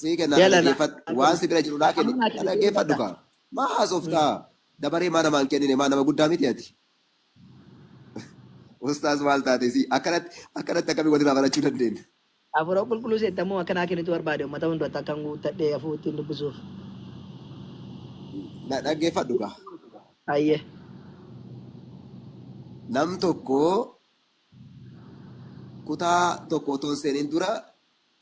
Sii kennaa na Jaalala dhageeffadhu. Waan argamu. si bira jiru naa kenni. Amma ati Na dhageeffadhu dhaggeeffadha. kaa. Maa haasoftaa? Dabaree maa namaan kennine? Maa nama guddaa miti ati? Ustaaz maal taate sii? Akkanatti akkanatti akkamii walirraa barachuu dandeenya? Hafuura qulqulluu seetta immoo akka naa kennitu barbaade uummata hunduratti akkan guuttadhee hafuu ittiin dubbisuuf. Na dhaggeeffadhu kaa. Hayyee. Nam tokko kutaa tokko otoo hin seeniin dura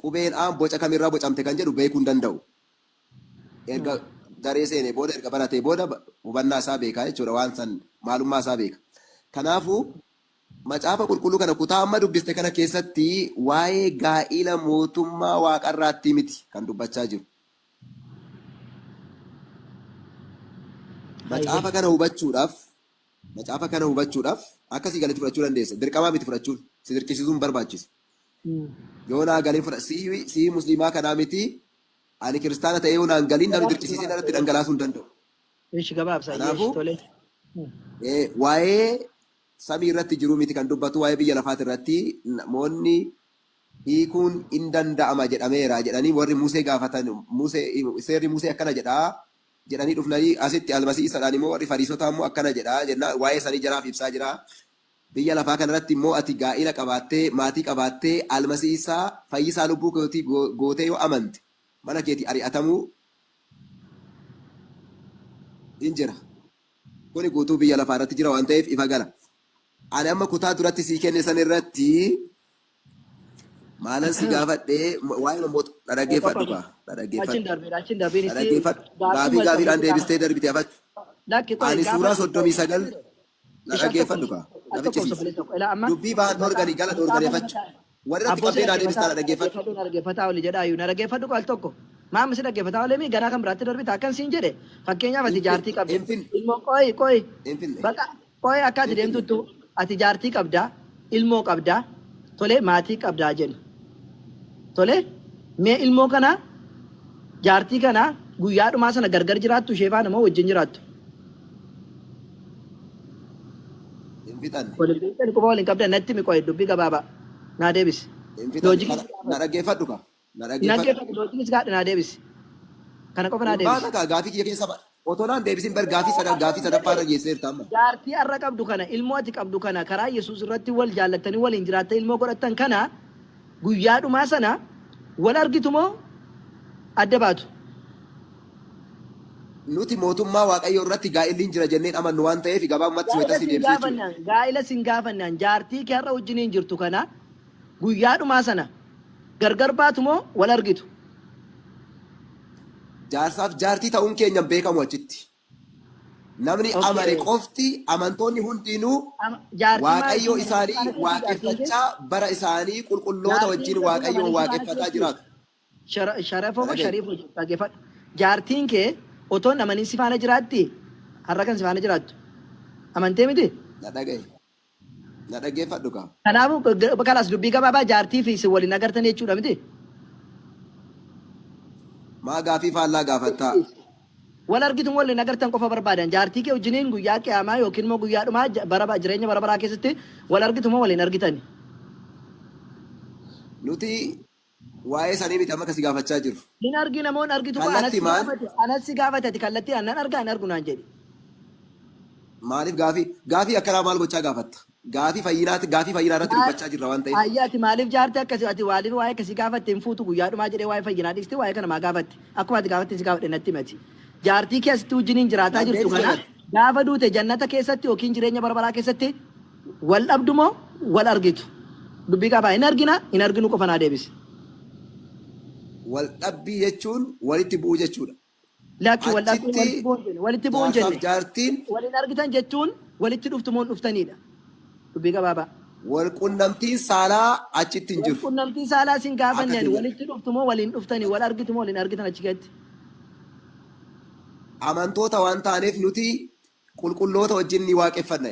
Qubeen A boca kam irraa bocamte kan jedhu beekuu hin danda'u. Erga daree seenee booda, erga baratee booda hubannaa isaa beeka jechuudha. Waan san maalummaa isaa beeka. Kanaafuu Macaafa Qulqulluu kana kutaa amma dubbiste kana keessatti waa'ee gaa'ila mootummaa waaqarraattii miti kan dubbachaa jiru. Hayyee. Macaafa kana hubachuudhaaf macaafa kana hubachuudhaaf akka sii galetti fudhachuu dandeessa. Dirqamaa miti fudhachuun. Si dirqisiisuu hin barbaachisu. yoo naa galee fudha sii sii musliimaa kanaa miti ani kiristaana ta'ee yoo naan galiin namni Gabaabsi dirqisiisee gabaabsi irratti gabaabsi. dhangalaasuu hin danda'u. Ishi gabaabsa yeesh Kanaafuu tole. eh, waa'ee samii irratti jiruu miti kan dubbatu waa'ee biyya lafaati irratti namoonni hiikuun hin danda'ama jedhameera jedhanii warri Musee gaafatan Musee seerri Musee akkana jedha jedhanii dhufnanii asitti almasii isadhaan immoo warri fariisotaa immoo akkana jedha jennaan waa'ee sanii jaraaf ibsaa jira. Biyya lafaa kana irratti immoo ati gaa'ila qabaattee, maatii qabaattee, Almasi Iisa, fayyisaa lubbuu keetii gootee yoo amante, mana keetii ari'atamuu in jira. Kuni guutuu biyya lafaa irratti jira waan ta'eef ifa gala. Ani amma kutaa duratti sii kenne san irratti maalan si gaafadhe waa'ee mammoota na Papa dhaggeeffadhu Papa. kaa na Achiin dhaggeeffadhu darbeera achiin darbeera na isii dhaggeeffadhu gaafii gaaffiidhaan gaaffiidhaan deebistee darbite afatti lakki qoyi ani suuraa gaafadhu soddomii sagal Na dhaggeeffadhu kaa. Na ficcisiisi. Dubbii Baahar Dhoorganii jala dhoorganeefachu. Warri irratti qabdee naa deebistaa na dhaggeeffadhu. Na dhaggeeffataa oli jedhaa iyyuu. Na dhaggeeffadhu kaa al tokko. Maam si dhaggeeffataa olee mii garaa kan biraatti darbita akkan siin jedhe fakkeenyaaf ati jaartii qabda. Ilmoo qooyi qooyi. Baqa qooyi akka ati deemtuttu ati jaartii qabda. ilmoo qabdaa tolee maatii qabdaa jenna tolee mee ilmoo kana jaartii kana guyyaa dhumaa sana gargar jiraattu ishee faana moo wajjin jiraattu Hin fixanne. waliin beektan quba waliin qabdan natti mi qo'e dubbii gabaabaa naa deebisi Hin fixanne. loojikii Na- Na dhaggeeffadhu kaa. Na Hin dhaggeeffadha. dhaggeeffadhu doo please gaadha naa deebisi. Kana qofa naa Hin deebisi. baata kaa gaafii kiyya keessa ba. Otoo naan deebisin bar gaafii Ilmoo sadan gaafii sadaffaa irra waaqayyoo geesseerta amma. jaartii har'a qabdu kana ilmoo ati qabdu kana karaa Yesuus irratti wal jaallattanii waliin jiraattanii ilmoo godhattan kana guyyaa dhumaa sana wal argitu moo adda baatu? Nuti mootummaa waaqayyoo irratti gaa'illi hin jira jenneen amannu waan ta'eef gabaabumatti Gaa'ila wayita si sin deebisee jechuudha. gaafannaan gaa'ila sin gaafannaan jaartii kee har'a wajjiniin jirtu kana Guyyaa dhumaa sana gargar baatu moo wal argitu? Jaarsaaf jaartii ta'uun keenya hin beekamu achitti. Namni Okay. amane qofti, amantoonni hundiinuu Am- Jaartii maal Waaqayyoo isiin jedhe? isaanii Maal jechuun jaartiin kee? waaqeffachaa bara isaanii qulqulloota Jaartiin wajjin kee Waaqayyoon amane maal waaqeffataa jechuun? jiraatu. Shara- Sharafoo moo Dhaga'e. shariifoo jedhu dhaggeeffadhu. Jaartiin kee otoo hin amanin si faana jiraatti? Har'a kan si faana jiraattu. Amantee miti? Na dhaga'e. Na dhaggeeffadhu kaa. Kanaafuu g- kalaas dubbii gabaabaa jaartii fi isin waliin agartan jechuudha miti. Maa gaafii faallaa gaafattaa? Wal argitu waliin agartan qofa barbaadan jaartii kee wajjiniin guyyaa qiyaamaa yookiin immoo guyyaa dhumaa j- bara ba- jireenya bara baraa keessatti wal argitu moo waliin argitani? Nuti Waa'ee isaanii miti amma kan si gaafachaa jiru. Hin argina moo hin argitu koo anas si Kallattimaan gaafate anas si gaafate ati kallattiidhaan nan argaa hin argu naan jedhi. maaliif gaafii gaafii akkanaa maal gochaa gaafatta? Gaafii fayyinaati gaafii fayyinaa irratti Maal dubbachaa jirra waan ta'eef. ayya ati maaliif jaartii akkasii ati waaliin waa'ee akkasii gaafatte hin fuutu guyyaa dhumaa jedhee waa'ee fayyinaa dhiisti waa'ee kana maa gaafatte akkuma ati gaafatte si gaafadhe natti himi ati. Jaartii kee asitti wajjiniin jiraataa jirtu Dandeetti kana jannatti. gaafa duute jannata keessatti yookiin jireenya bara baraa keessatti Wal dhabdu moo wal argitu? Dubbii qaba. Hin argina, hin arginu qofa naa deebisi. Wal dhabbii jechuun walitti bu'uu jechuudha. Lakki wal dhabbii Achitti walitti bu'uu hin jenne. Walitti bu'uu hin jaarsaaf jenne. jaartiin Wal hin argitan jechuun walitti dhuftu moo hin dhuftaniidha. Dubbii gabaabaa. wal qunnamtiin saalaa achitti hin Wal jiru. qunnamtii saalaa sin Akka gaafanne ani keenya. walitti dhuftu moo wal hin dhuftani? Wal argitu moo wal hin argitan achi keessatti? Amantoota waan taaneef nuti qulqulloota wajjin ni waaqeffanna.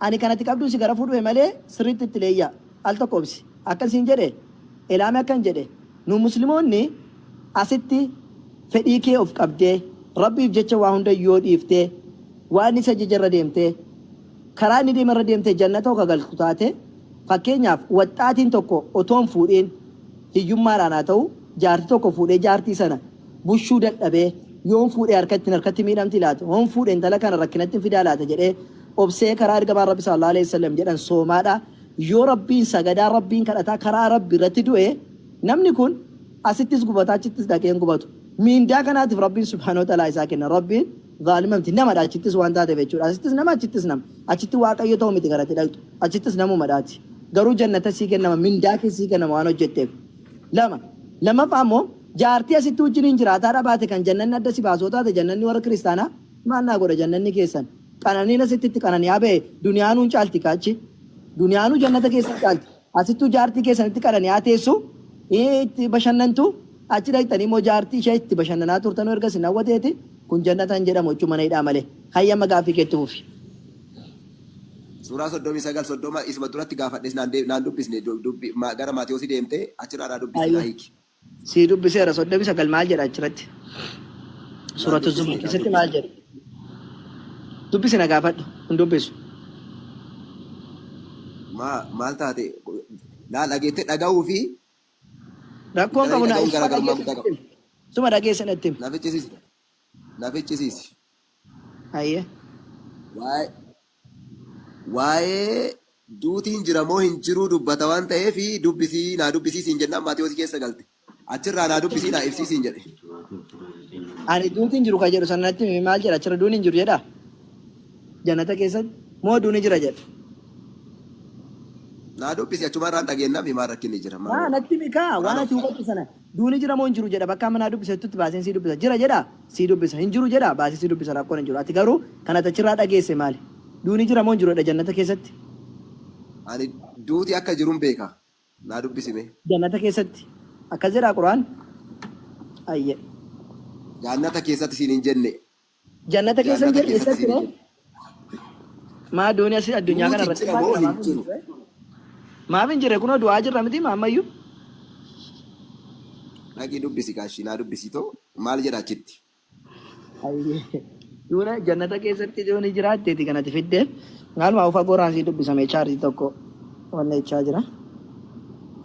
Ani kan ati qabduu si garafuu dhufe malee sirriitti itti leeyyaa. Al tokko obsi. Akkan siin jedhe Elaami akkan jedhe nu muslimoonni asitti fedhii kee of qabdee Rabbiif jecha waa hunda yoo dhiiftee waan inni si ajaje irra deemtee karaa inni deeme irra deemtee jannata ka galtu taate fakkeenyaaf waxxaatiin tokko otoo hin fuudhiin hiyyummaadhaan haa ta'u jaartii tokko fuudhee jaartii sana bushuu dadhabee yoon fuudhe harka ittiin harkatti miidhamti laata? Hoon fuudhe intala kana rakkinattin fidaa laata jedhee obsee karaa ergamaan Rabbi sallallahu aleyhi wasallam jedhan soomaadha yoo Rabbiin sagadaa Rabbiin kadhataa karaa Rabbi irratti du'e namni kun asittis gubataa achittis dhaqee hin gubatu miindaa kanaatiif Rabbiin subhaanahu wa ta'aalaa isaa kenna Rabbiin zaalima miti namadha achittis waan taateef jechuudha asittis nama achittis nama achitti waaqayyo ta'u miti garatti dhaqxu achittis namumadhaati garuu jannata sii kennama mindaa kee sii kennama waan hojjetteef lama lammaffaa immoo Jaartii asitti wajjiniin jiraataa dhabaate kan jannanni adda si baasoo taate jannanni warra kiristaanaa maal naa godha jannanni keessan qananiin asitti itti qanani'aa ba'e duniyaanuu hin caalti ka achi duniyaanuu jannata keessa hin caalti asittuu jaartii keessanitti qanani'aa teessu itti bashannantu achi dhaqxanii immoo jaartii ishee itti bashannanaa turtanuu erga isin hawwateeti kun jannata hin jedhamu jechuu mana hidhaa malee hayyama gaaffii keetti fufi. Suuraa soddomii sagal soddoma isuma duratti gaafadhes naan dubbisne gara Maatewoosi deemte achirraa naa dubbisi naa hiiki. Sii dubbiseera 39 maal jedha achirratti? Naa Suuratu dubbisi Zumar naa keessatti maal dubbisi. jedha? Dubbisi na gaafadhu hin dubbisu. Maa maal taate laa dhageette dhaga'uu fi Rakkoon galanii qabu na dhaga'uun isuma garaagarummaa dhageesse guddaa natti qaba. himi. Isuma dhageesse natti himi. Na ficcisiisi. Na ficcisiisi. Hayyee. Waa'ee Waa'ee duutiin jira moo hin jiruu dubbata waan ta'eef dubbisi naa dubbisii siin jennaan Maatewos keessa galte. Achirraa naa dubbisii naa ibsii siin jedhe. Ani duuti hin jiru kan jedhu sana natti himi maal jedha achirra duuni hin jiru jedha jannata keessatti moo duuni jira jedha. Naa dubbisi achumarraan dhageennaafi maal rakkinni jira Naa maaloo. natti himi kaa waan Maaloo. ati hubattu sana. Duuni jira moo hin jiru jedha bakka amma naa dubbisettutti baaseen sii dubbisa jira jedha sii dubbisa hin jiru jedha baasee sii dubbisa rakkoon hin jiru ati garuu kan ati achirraa dhageesse maali duuni jira moo hin jiru jedha jannata keessatti. Ani duuti akka jirun beeka naa dubbisi mee. Jannata keessatti akkas jedhaa quraan ayyee. Jaannata keessatti siin hin jenne Jannata keessa hin Jannata jirre keessa eessatti jira ree? jedhe. Maa doonii asii addunyaa kana Duuti irratti jira baate moo hin namaaf hin jiru? jirre? Maaf hin jirre kunoo du'aa jirra miti maammayyuu. Dhaqii dubbisi gaashii naa dubbisi too maal jedha achitti? Ayyee. Duuna jannata keessatti doonii jiraatteeti kanati fidde. Maaluma ufa goraan sii dubbisame chaarjii tokko. Wanna ichaa jira.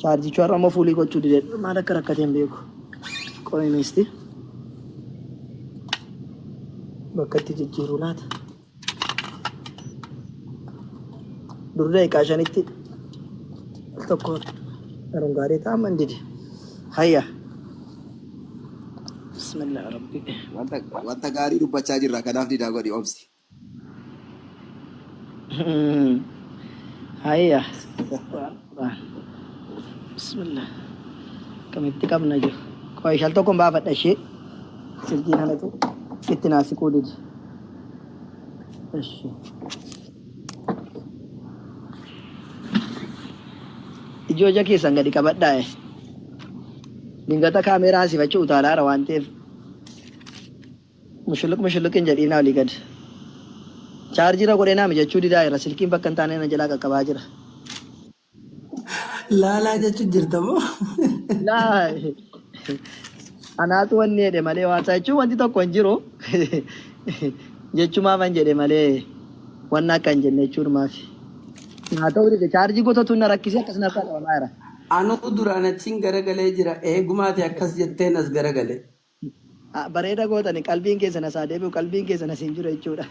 Chaarjichuu har'a immoo fuulii gochuu dide maal akka rakkatee hin beeku. Qomi miisti. Bakka itti jijjiiruu laata. Dur daqiiqaa shanitti al tokko yeroon gaarii ta'a amma hin dide. Hayya. Bismillah rabbi. Wanta wanta gaarii dubbachaa jirra kanaaf didaa godhi obsi. Hayya. Bismillah. Kamitti qabna jiru. Qoy shal tokko baafadha ishee. Silkii kanatu itti naa siquu didi. Ishi. Ijoo ija keessan gadi qabadhaa. eh. Dingata kaameeraa sifachi utaalaara waan ta'eef Mushuluq mushuluq hin jedhiina oli gad charge irra godhee naa mijachuu didaa irra silkiin bakka hin taane na jalaa qaqqabaa jira. Laalaa jechuun jirta moo? Laa anaatu wanni jedhe malee waan isaa jechuun wanti tokko hin jiru jechumaa man jedhe malee wanna akka hin jenne jechuun maafi. Naa ta'uu dide chaarjii gotatu na rakkisee akkas narraa qabamaa jira. Anuu duraan achiin garagalee jira eegumaati akkas jetteen as garagalee. Bareeda gootani qalbiin keessan as haa deebi'u qalbiin keessan as hin jiru jechuudha.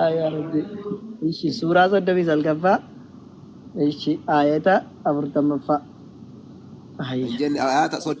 Aayaa rabbi. Ishi suuraa soddomii salgaffaa. Ishi aayata afurtammaffaa. Aayaa. Hin jenne ayaata soddoma.